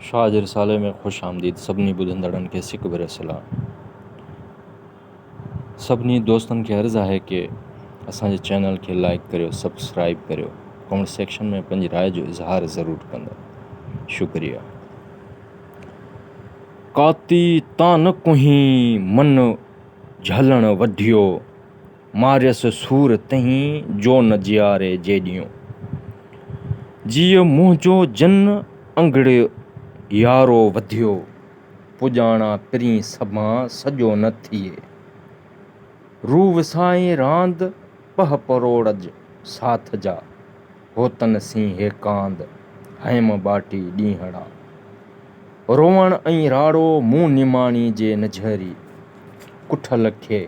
شاهه جي رسالي ۾ خوش آمديد سڀني ٻڌندڙن کي سڪ ڀريو سلام. سڀني دوستن کي عرض آهي ڪي اسان جي چينل کي لائيڪ ڪريو سبسڪرائيب ڪريو ڪمينٽ سيڪشن ۾ پنهنجي راء جو اظهار ضرور ڪندا شڪريا. ڪاتي تان نه ڪنهين من جهلڻ وڍيو. ماريس سور تنهين جو نه جياري جيڏيون. جيء منهنجو جن انگڙي يارو وڌيو. پڄاڻا پرين سڀان سڄو نه ٿئي. روء وسائين راند پهه پروڙج ساٿ جا. هوتن سين هي ڪاند هيم ٻاٽي ڏينهڙا. روئڻ ۽ راڙو مون نماڻي جي نجهري. ڪٺل کي.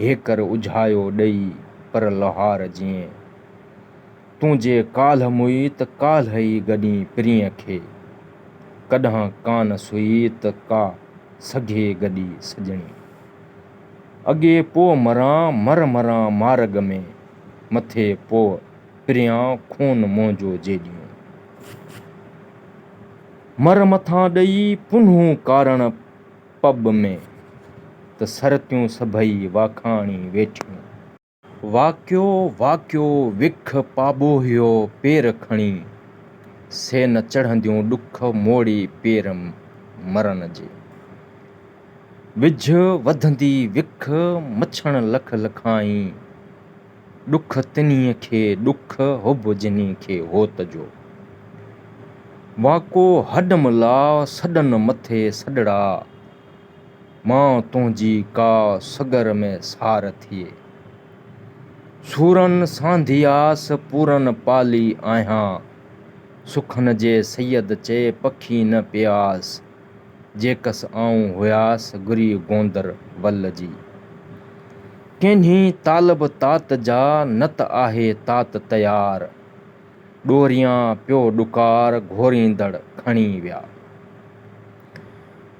هيڪر اجهايو ڏئي پر لوهار جيئن. تون جي ڪالهه موئي ته ڪالهه ئي گڏين پرينء کي. ڪڏهن ڪانه سئي ته ڪا سگهي گڏي سڄڻي. اڳي پوء مران مر مران مارڳ ۾، مٿي پوء پريان خون منهنجو جيڏيون. مر مٿان ڏئي پنهون ڪارڻ. پٻ ۾، ته سرتيون سڀئي واکاڻي ويٺيون. واڪيو واڪيو وک پاٻوهيو پير کڻي، سي نه چڙهنديون ڏک موڙي پير مرن جي. وجهه وڌندي وک مڇڻ لک لکائين. ڏک تنهي کي ڏک حب جنهي کي هوت جو. واڪو هڏ ملا سڏن مٿي سڏڙا. ماء تنهنجي ڪا سڳر ۾ سار ٿئي. سورن سانڌياس پورن پالي آهيان. سخن جي سيد چئي پکي نه پياس. جيڪس آئون هياس گري گوندر ول جي. ڪينهي طالب تات جا نه ته آهي تات تيار. ڏوريان پيو ڏڪار گهوريندڙ کڻي ويا.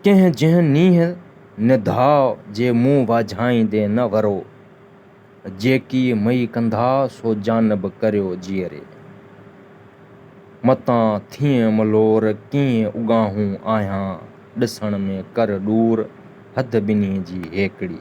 ڪنهن جنهن نينهن نڌاء جي مون واجهائيندي نه ورو. جيڪي مئي ڪندا سو جانب ڪريو جيئري. متان ٿئين ملور ڪيئن اڳاهون آهيان ڏسڻ ۾ ڪر ڏور حد ٻنهي جي هيڪڙي.